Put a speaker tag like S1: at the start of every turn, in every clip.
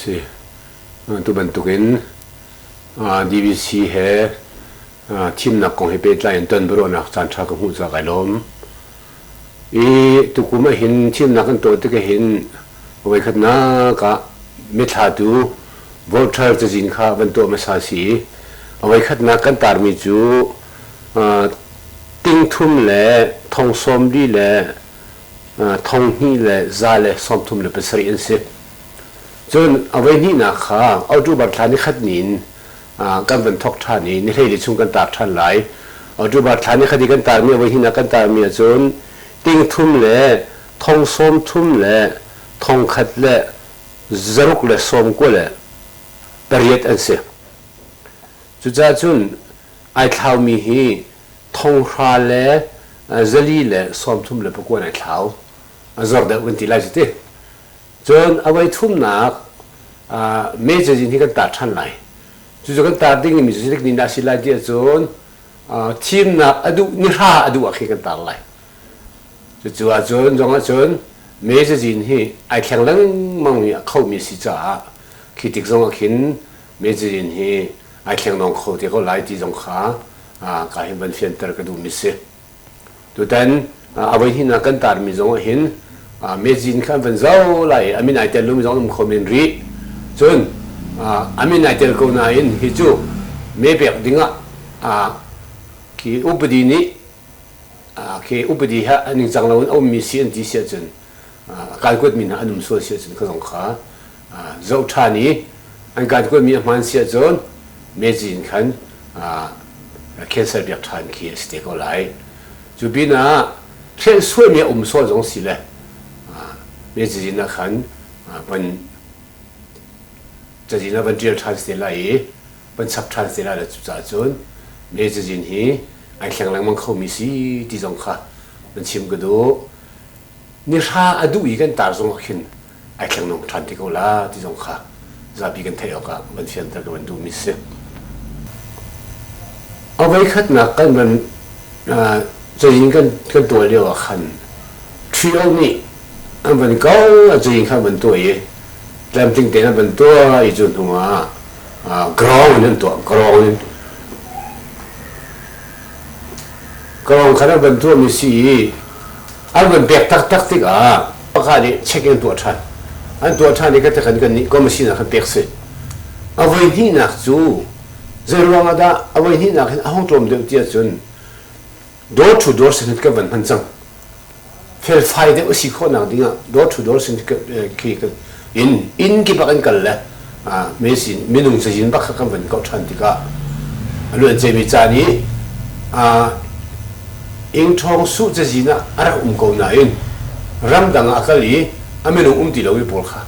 S1: si tu bantukin DVC he thimnak kong he pehtlai in tonbiaruahnak caan ṭha ka hmuh cak ai lawm. I tukum ah hin thimnak kan tuah tik ah hin voikhatnak ah mithlatu voter cazin kha van tuah hmasa si i a voikhatnak kan tarmi cu tingthum le thong sawmli le thonghnih le za le sawmthum le pasarih an si. Cun a voi hnihnak kha October thla ni khat ni in kan van thawk ṭhan i nihleili chung kan taar ṭhan lai. October thla ni khadi kan taarmi a voi hnih kan taarmi ahcun ting thum le thong sawm thum le thong khat le zaruk le sawm kua le pariat an si. Cucaah cun ai thlaumi hi thonghra le zali le sawm thum le pakua in ai thlau. A zor deuh kan ti lai cuti. Cun a voithumnak mejor zin hi kan tar ṭhan lai. Cucu kan tar dingmi mejor ni a si lai ti ahcun thimnak a duh nihra a duh ah khin kan tar lai. Cucu ahcun zong ahcun mejor zin hi ai thleng lengmangmi a khomi a si caah khi tik zong ah khin mejor zin hi ai thlengdong kho te ko lai ti zong kha ka hin van fianter ka duhmi si. Tutan a voi hnih kan tarmi zong ah hin mezin kha an van zau lai i a min ai tel lomi zong um kho men rih. Cun a min ai tel ko nain hi cu mepek dingah khi upadi nih khi upadi ha ningcang loin a ummi si an ti si ahcun kai kuatmi hna an um sual si ahcun ka zong kha zoh ṭhan i an kai kuatmi a hmaan si ahcun meji in khan cancel biak ṭhan khi a si te ko lai cu pin ah thilsuaimi a um sual zong si le meji in ah khan van cazin ah van ṭial ṭhan si te lai i van chap ṭhan si lai le cucaah cun meji hi ai thleng lengmang khomi si ti zong kha van chim ka duh ni hra a duh i kan tar zong ah khin ai thlengnom ṭhan te ko la ti zong kha zapi kan theih awkah van fianter ka van duhmi si. A voikhatnak kan van cein kan kan tuah lio ah khan trio nih an van ko a cein kha van tuah i tlamtling tein an van tuah i cu hnu ah grong in an tuah grong in Ka kong kha nan van tuahmi si i an van pek taktak tikah pakhat nih check in an tuah ṭhan. An tuah ṭhan i khatekan kannih commission ah khan pek si. A voi hnihnak cu zei ruangah dah a voi hnihnak hin a hung tlawm deuh tiah cun door to door sehlut kan van hman cang. felfai deuh a si khawh nak dingah door to door sin in inn kipah kan kal le mezin minung cazin bakhat kan van kau ṭhan tikah a luan cemi caan i ing ṭhawng su cazin ah a rak um ko nain ramdang ah kal i a minung um ti lo i pawl kha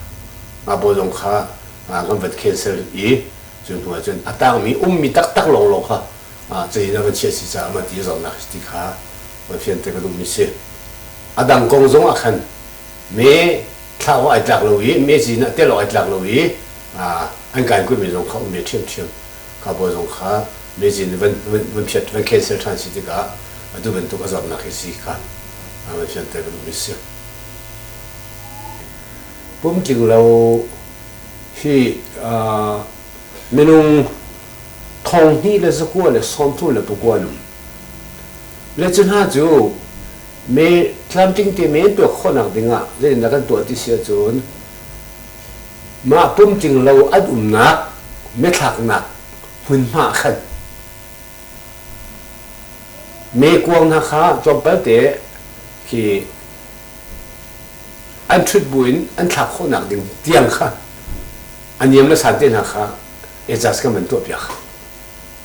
S1: a pawl zong kha kan van cancel i cu hnu ah cun a tangmi ummi taktak lawnglawng kha cei na van chiah si caah mah ti zawtnak ti kha van fian te ka duhmi si a dang kong zong ah khan me thlah awk ai tlak lo i me zin ah tel awk ai tlak lo i an kai kuimi zong kha um me ṭhiamṭhiam ka bawi zong kha me zin van phiat van cancel ṭhan si tikah atu bantuk a zawtnak hi si kha van fian te ka duhmi si pumtling lo hi Minung thong hnih le zakua le sawmthum le pakua an um. Le cu hna cu me tlamtling te men tuak khawnak dingah zeitindah kan tuah ti si ahcun mah pumtling lo an umnak methlaknak hmunhma khan me kuang hna kha tlawmpal te khi an ṭhut buin an thlak khawhnak ding tiang kha a niam le san te hna kha adjust kan van tuahpiak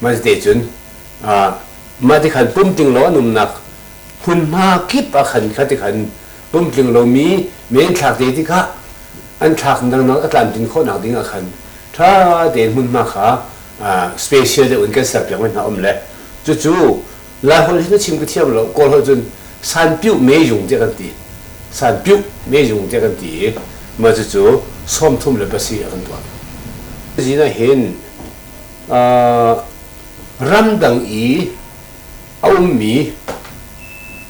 S1: mah te cun mah ti khan pum ting law an umnak hmunhma kip ah khan kha ti khan pum tling lomi men thlak te ti kha an thlak nangnak a tlamtlin khawhnak ding ah khan tha tein hmunhma kha special te un kan serpiak mai hna um le cucu Lai holh hi na chim ka thiam lo Kawl holh cun sanpiuh mezung tiah kan ti sanpiuh mezung tiah kan ti i mah cucu sawmthum le pasi a kan tuah zin ah hin ramdang i a ummi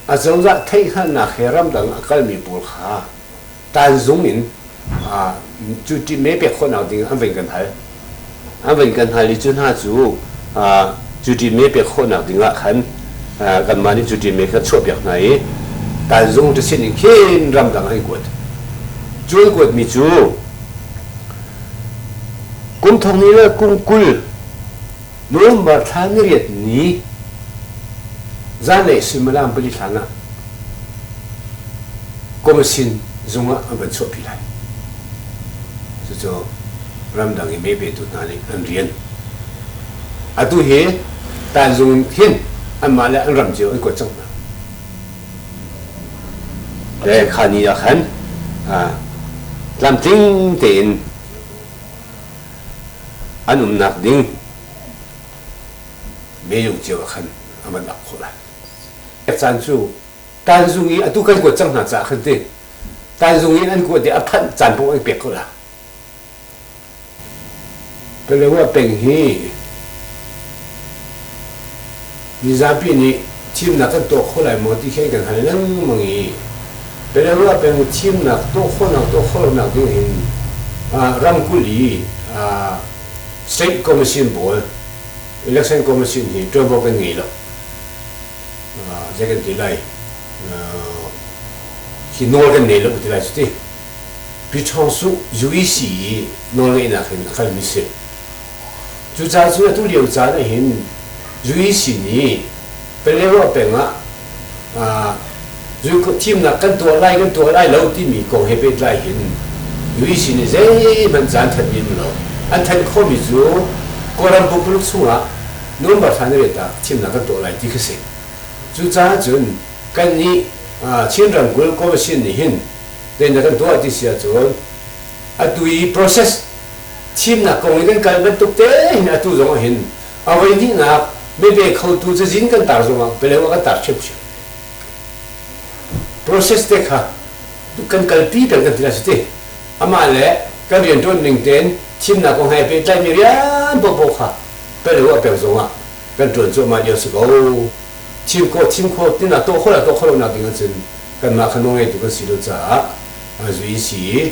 S1: a cozah theihhngalhnak he ramdang a kalmi pawl kha tanzung in cu ṭi me pek khawhnak ding an vun kan hal an vun kan hal i cu hna cu cu ṭi me pek khawhnak ding ah khan kanmah nih cu ṭi me kan chuahpiak hna i tanzung ṭisin in khin ramdang an kuat cu an kuatmi cu kum thong ni le kum kul November thla ni riat ni zanlei suimilam pali hlan ah Komisin zung ah an van chuahpi lai. Cucu ramdang i mebetu hna nih an rian. Atu hi tanzung in hin anmah le an ram cio an kuat cang hna. Le kha ni ah khan tlamtling tein an umnak ding meilung cio ah khan a van ap khawh lai. Caan cu tanzung i atu kan kuat cang hna caah khan ti tanzung in an kuat dih a phanh caan pawh an pek ko la Pelewa peng hi mizapi nih thimnak kan tuah kho lai maw ti khi kan hal lengmang i Belarus peng thimnak tuah khawhnak tuah khawhnak ding in ramkulh i state commission pawl election commission hi ṭuanvo kan ngei lo zei kan ti lai hi nawl kan nei lo ti lai cuti Pi Ṭhawng Suh UEC i nawlngeihnak in a kalmi si Cucaah cu atu lio caan ah hin Juisi nih Paleo peng ah thimnak kan tuah lai kan tuah lai lo timi kong he pehtlai hin Juisi nih zeihmanh caan thanh rih lo. An thanh khawhmi cu Kawlram pumpak chungah November thla ni riat ah thimnak kan tuah lai ti khi a si. Cucaah cun kannih Chin ramkulh Commission nih hin teinak kan tuah ti si ahcun atu i process thimnak kong in kan kal bantuk tein atu zong ah hin a voihnihnak mebe khotu cazin kan tar zong ah beleu kan tar hrimhrim process te kha kan kalpi peng kan ti na si ti amah le kan rianṭuan ning tein thimnak kong he pehtlaimi rian popo kha peleu a peng zong ah kan ṭuan cuahmah lio si ko thim kho thim kho tinak tuah kho la tuah kho lonak ding ahcun kanmah kha nawlngeitu kan si lo caah a zui si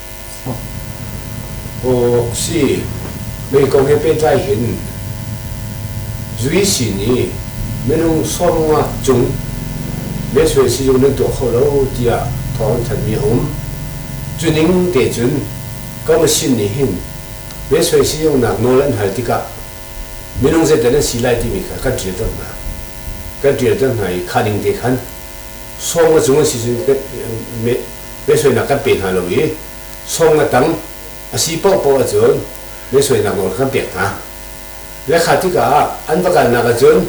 S1: Mei kong he pehtlai hin zui sin i minung sawmnga cung mehsuai sizung nan tuah kho lo tiah thawng an thanh mi a um. Cuning te cun ka machine nih hin mehsuai sizungnak nawl an hal tikah minung zeidah nan si lai timi kha kan ṭialter hna. Kan ṭialter hna i kha ning te khan sawmnga cung an si cun Mehsuainak kan pe hna lo i song le tang a si paohpaoh ahcun mehsuainak nawl kan pek hna. Le kha tikah ah an va kalnak ahcun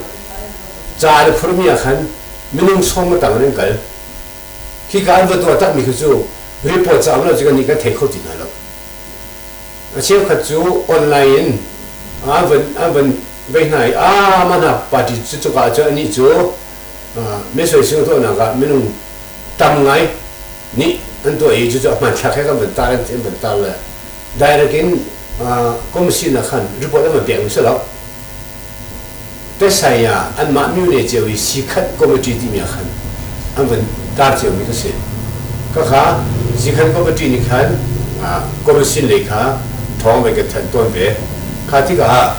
S1: ca an i phurmi ah khan minung song le tang in an kal. Hika an va tuah takmi khi cu report caah um lo cu kannih kan thei kho ti hna lo. A cheukhat cu online in an van an van vei hna i a ma hna party cu cuka ah cun anih cu Misoi sing tuahnak ah minung tam ngai nih an tuah i cucu a hmanthlak he kan van tar in an van tar le direct in kum sinak khan report an van pek mi si lo tesaya anmah myu ne ceu i sikhat committee timi ah khan an van tar ceu mi ka si kakha sikhan committee nih khan commission lei kha thawng ve ka than ton ve kha tikah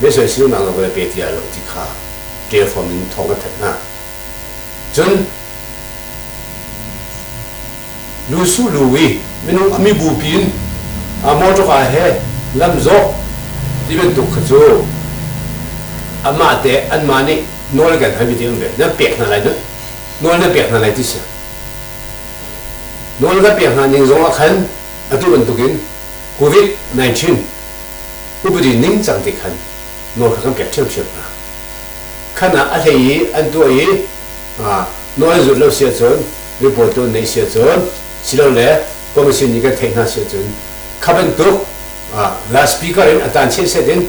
S1: Misual sinak le velpe ti ai lo ti kha ṭelhrawm in thawng kan thanh hna. Cun lu su lu i minung a mibupi in a motorka he lamzawh ti bantuk kha cu amah te anmah nih nawl kan hal mi ti an vel nan pek hna lai nan nawl nan pek hna lai ti si nawl kan pek hna ning zong ah khan atu bantukin covid-19 upadi ningcang te khan nawl kha kan pek ṭhiamṭhiam hna. Khan ah a hlei i an tuah i nawl an zulh lo si ahcun, ribual tu an neih si ahcun, silole commission nih kan theih hna si ahcun, kha bantuk la speaker in a tan chiat set in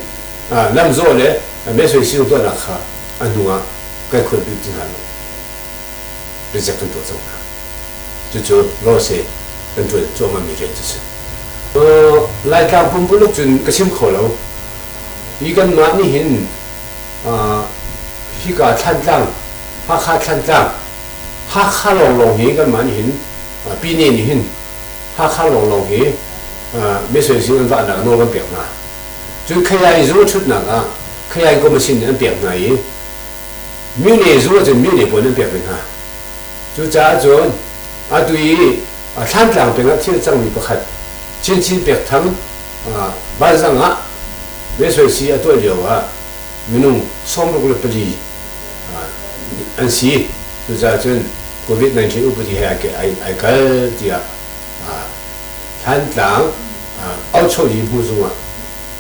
S1: lamzawh le mesoising tuahnak kha a hnu ah kan khulbik ti hna lo. pizik kan tuah cang hna. Cucu law si kan ṭuan cuahmahmi rian cu si. Aw, Laitlang pumpuluk cun ka chim kho lo. Hi kanmah nih hin hika Thlantlang, Hakha Thlantlang, Hakha lawnglawng hi kanmah nih hin Pine nih hin Hakha lawnglawng hi misuaising an vahnak nawl kan pek hna. Cun Khayai zu a ṭhutnak ah Khayai Gomasin nih an pek hna i Mi nih zul ahcun mi nih puan an pek ve hna. Cucaah cun atu i thlantlang pengah thil cangmi pakhat chinchin pek thang vanzang ah mesoisi a tuah lio ah minung sawmruk le pali an si cucaah cun covid-19 upadi he ai kal tiah thlantlang auchohli hmu zungah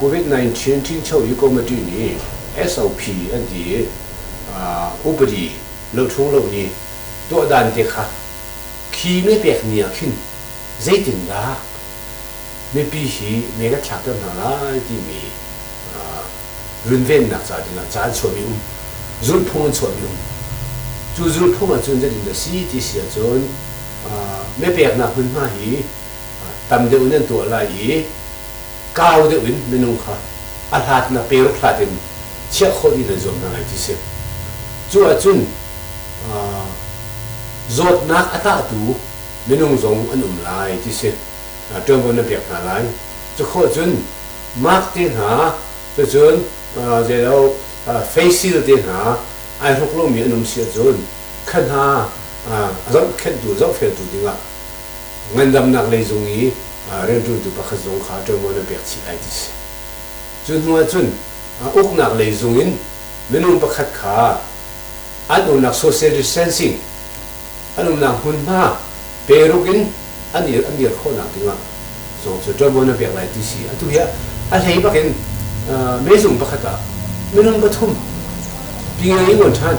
S1: COVID-19 ṭhingcho hi committee nih SOP an ti i upadi loṭhung lo nih tuahdan te kha khi mee pek ni ah khin zeitindah mipi hi mee kan thlakter hna lai timi runvennak ca dingah ca an chuahmi um zulphung an chuahmi um cu zulphung ahcun zeitindah si ti si ahcun meepeknak hmunhma hi tam deuh nih an tuah lai i kau deuh in minung kha a hlatnak pe ruk hlat in chiah khawh dih nan zuam hna lai ti si. Cu ahcun zawtnak a tahtu minung zong an um lai ti si. Ṭuanvo nan pek hna lai. Cukhawh cun mark te hna, cucun zei lo facial te hna ai hruk lomi an um si ahcun kha hna a zohkhenhtu, zohfeltu dingah ngandamnak lei zung i rianṭuantu pakhat zong kha ṭuanvo na pek chih lai ti si. Cu hnuah cun uknak lei zung in minung pakhat kha an umnak social distancing, an umnak hmunhma peruk in an dir khawhnak dingah zong cu ṭuanvo na pek lai ti si. Atu hi a hlei bak in mezung pakhat ah minung pathum pi ngei i ngawn ṭhan.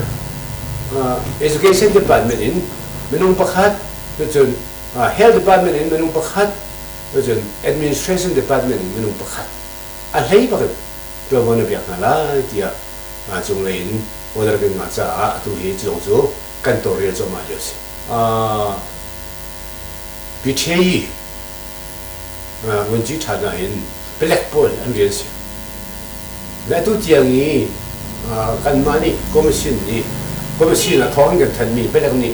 S1: Education department in minung pakhat Cucun health department in minung pakhat, cucun administration department in minung pakhat a hlei bak in ṭuanvo na pek hna lai tiah cunglei in order kan ngah caah atu hi culong cu kan tawlrel cuahmah lio a si. Piteyi ngunci ṭha hna in palek pawl an rian si. Le atu tiang i kanmah nih komishin nih komishin ah thawng in kan thanmi palek nih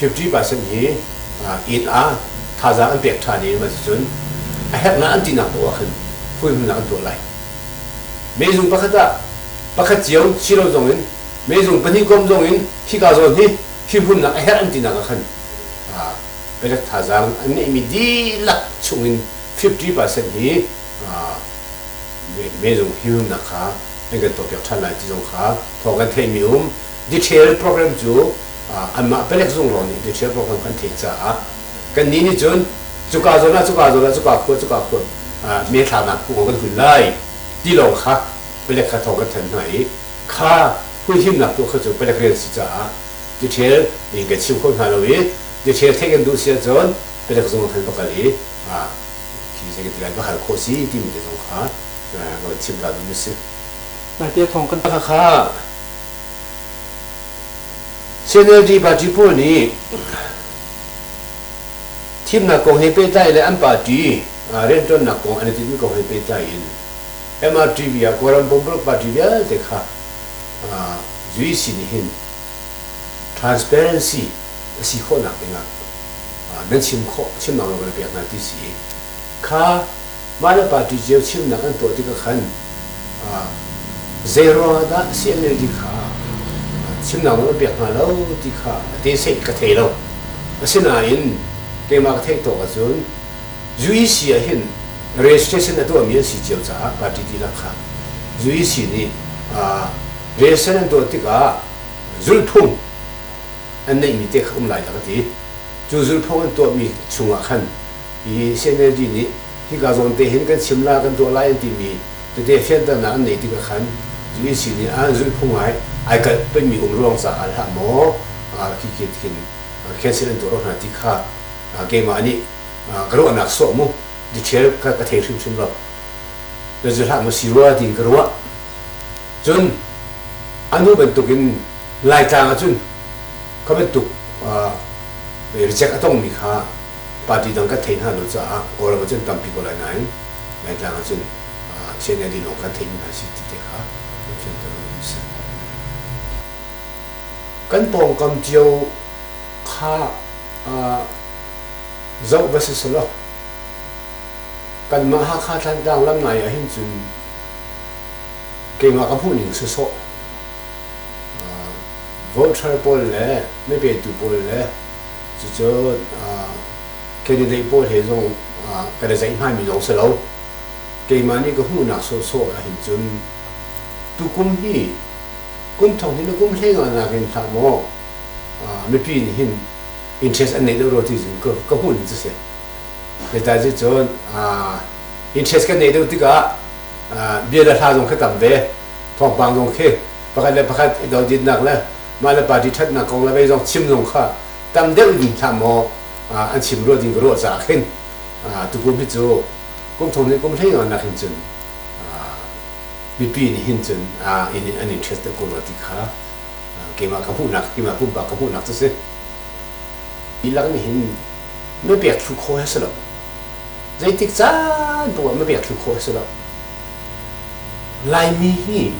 S1: 50 percent hi inn ah thazaang an pek ṭhan i cucun a herhnak an tinak poah khan fuihhimnak an tuah lai. Meizung pakhat ah pakhat cio si lo zong in meizung pahnih kom zong in khika zawn hi fimhunnak a herh an tinak ah khan pekak thazaang an ngeihmi dihlak chungin 50% hi meizung fimhimnak kha an kan tuahpiak ṭhan lai ti zong kha thawng kan theihmi um detail program cu anmah palek zung lawng nih detail program kan theih caah kannih nih cun cuka zawn ah cuka zawn ah cuka khua cuka khua me thlanak kung kan kun lai ti lawng kha palek kha thawng kan thanh hna i kha huihimnak tu kha cu palek rian si caah detail in kan chim kho hna lo i detail theih kan duh si ahcun palek zung ah khan va kal i lai va hal khawh si timi te zong kha ka chim ka duh mi si. Nai te thawng kan kha CNLD party pawl nih thimnak kong he pehtlai le an party rianṭuannak kong an i tinhmi kong he pehtlai in MRTV ah Kawlram Pumpak Party vialte kha UEC nih hin transparency a si khawhnak dingah nan chim khawh chim mang lo kan pek hna ti si i kha mah le party cio chimnak an tuah tikah khan zeiruang ah dah CNLD kha chimnak nawl an pek hnga lo ti kha a te seih ka thei lo. Asinain keimah ka theih tawk ahcun UEC ah hin registration a tuahmi an si cio caah party dihlak kha UEC nih registration an tuah tikah zulhphung an neihmi te kha um lai a ka ti. Cu zulhphung an tuahmi chungah khan Hihi CNLD nih hika zawn te hin kan chimla kan tuah lai an timi tete fianternak an neih tikah khan UEC nih an zulhphung ai ai kalh pengmi um ruang caah al hlah maw khikhin khin cancel an tuah hna ti kha keimah nih ka ruahnak sawh mu detail ka ka thei hrimhrim lo ka zul hlah mu si rua tiin ka ruah cun anu bantukin laitlang ahcun kha bantuk reject a tongmi kha party dang kan thei hna lo caah Kawlram ah cun tampi ko lai nain Laitlang ah cun CNLD lawng kan thei hna si ti te kha kan fianter a si. Kan pawngkam cio kha zoh va si selaw kanmah Hakha Thantlang lam nai ah hin cun keimah ka hmuh ning si sawh voter pawl le meipetu pawl le Cucu candidate pawl he zong kan i zeih hngami zong si lo. Keimah nih ka hmuhnak sawhsawh ahhin cun tukum hi kum thong hin na kum hlengah nakin hlah maw mipi nih hin interest an nei deuh rua ti cun ka hmuhning cu si. Hitai cu cun interest kan nei deuh tikah bia le hla zong khi tam ve, thawngpang zong khi pakhat le pakhat i doditnak le mah le party ṭhatnak kong le kei zong chim zong kha tam deuh in hlah maw an chim ruah ding ka ruah caah khin tukum hi cu kum thong nih kum hleinga nakin cun mipi nih hin cun an interest ko rua ti kha keimah ka hmuhnak keimah pumpak ka hmuhnak cu si dihlak nih hin mapek thlu khaw he si lo zeitik caan pawh mapek thlu khaw he si lo Laimi hi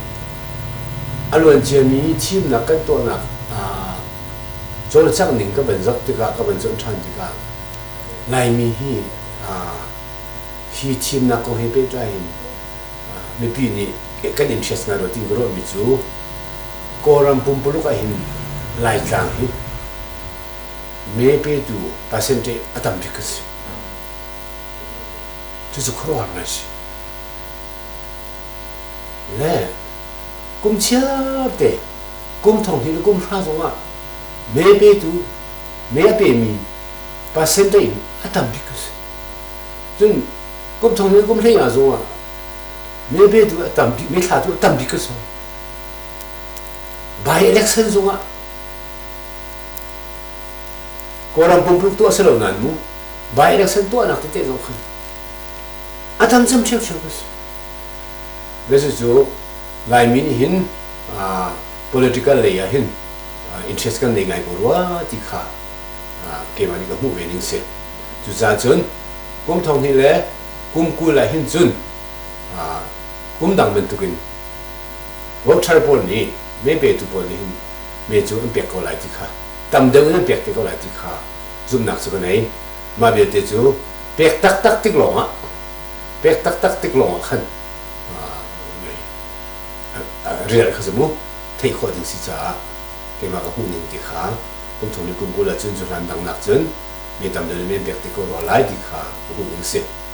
S1: a luanciami thimnak kan tuahnak ah cawlcangh ning ka van zoh tikah, ka van zoh ṭhan tikah Laimi hi hi thimnak kong he pehtlai in mipi nih kan interest ngai rua tiin ka ruahmi cu Kawlram pumpuluk ahhin Laitlang hi mee petu percentage a tam bik a si. Cucu khuaruahharnak a si. Le kum chiarte kum thong hi le kum hra zongah mee petu, mee a pemi percentage in a tam bik a si. Cun kum thong le kum hlei zongah mee petu a tam bik, mee thlatu a tam bik a si. By election zongah Kawlram pumpuluk tu a si lo nan mu. By-election tuahnak tete zong khan a tam cem ṭhiamṭhiam ko si. Cucu Laimi nih hin political lei ah hin interest kan nei ngai ko rua ti kha keimah nih ka hmuh ve ning si. Cucaah cun kum thong hnih le kum kul ah hin cun kum dang bantuk in voter pawl nih mee petu pawl nih hin mee cu an pek ko lai ti kha tam deuh in an pek te ko lai ti kha zumnak cu ka nei. Mah vialte cu pek taktak tik lawngah pek taktak tik lawngah khan rian kha cu mu theih khawh ding si caah keimah ka hmuhning ti kha kum thong le kum kul ah cun cu hlan dangnak cun mi tam deuh nih men pek ti ko rua lai ti kha ka hmuhning a si.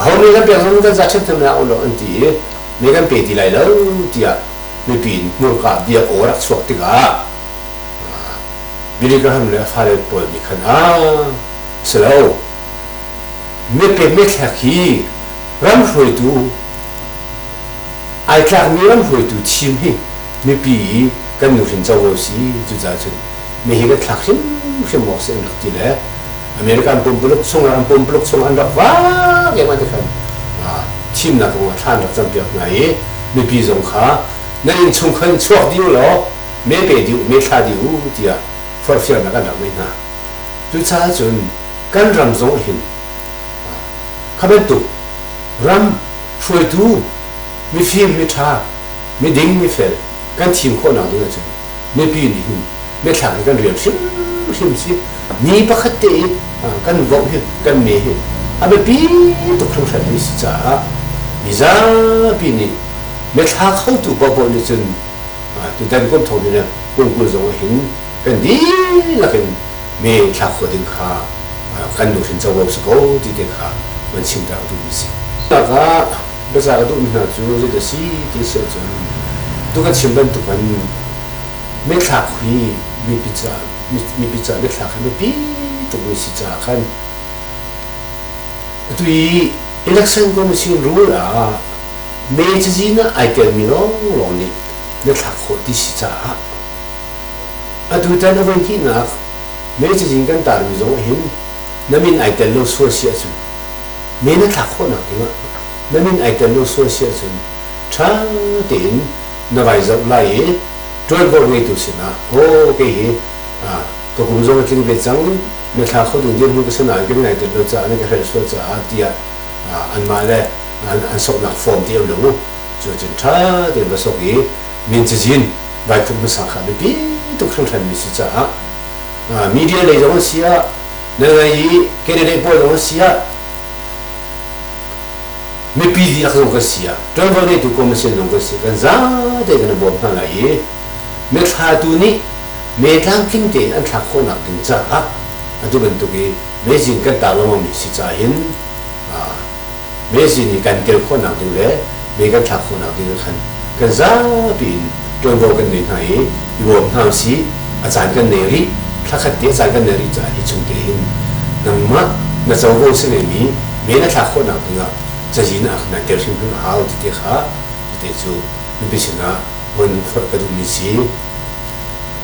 S1: Ho nih kan pek zong kan za ṭhentham hna ulaw an ti i mi kan pe ti lai lo tiah mipi in hmurka bia aw rak chuak tikah Billy Graham le fale pawl nih khan ah si lo mepek methlek hi ram hruaitu ai tlakmi ram hruaitu thim hi mipi i kan nuhrin co ko si cucaah cun mi hi kan thlak hrimhrim awk si an rak ti le American pumpuluk chung ah pumpuluk chung an rak vak em an ti khan thimnak kong ah thlan rak campiak hna i mipi zong kha na innchung khan chuak dih u law me pe dih me thla dih u tiah forfialnak an rak ngeih hna cucaah cun kan ram zong hin kha bantuk ram hruaitu mifim miṭha miding mifel kan thim khawhnak ding ahcun mipi nih hin biathlang hi kan rian hrimhrim si ni pakhat te i kan vok hi kan me hi a biapi tuk hringhran mi si caah mizapi nih biathla khotu bobo nih cun tutan kum thong nih kum kul zong ah hin kan dihlak in me thlak khawh ding kha kan nuhrin covo si ko ti te kha kan chimter duh mi si. Tak ah Baza ka duhmi hna cu zeidah a si ti a si ahcun tuk a chim bantukin mithlak hi mipi caah mipi caah mithlak hi biapi tukmi si caah khan atu i election commission rule ah May cazin ah ai telmi lawnglawng nih na thlak khawh ti si caah atutan a voi hnihnak May cazin kan tarmi zong hin na min ai tel lo sual si ahcun men a thlak khawhnak dingah na min ai tel lo sual si ahcun ṭha tein na vai zoh lai i ṭuanvo ngeitu sinah aw kei hi ka kum zong a tling ve cang na thla kho ding dirhmun ka sanain kan ngai tel lo caah nan ka hrelh sual caah tiah anmah le an soknak form ti lo u cu cun ṭha tein va sok i min cazin vai pumh hmasa kha biapi tuk hringhran mi si caah media lei zong a si ah na ngei i Candidate pawl na si ah mipi dihlak zong kan si ah ṭuanvo ngeitu commission zong kan si kan zate kan i bawm hna lai i mithatu nih me tlamtling tein an thlak khawhnak ding caah atu bantuk i mezin kan tar lengmangmi si caah hin mesi nih kan kel khawhnak ding le me kan thlak khawhnak ding khan kan zapi in ṭuanvo kan ngei hna i i bawm hna sih a caan kan nei rih thlakhat te a caan kan nei rih caah hi chung tein nangmah na covo si ne mi me na thlak khawhnak dingah cazin ah nan tel hrimhrim a hau tite kha tete cu nupi sinah von forh ka duhmi si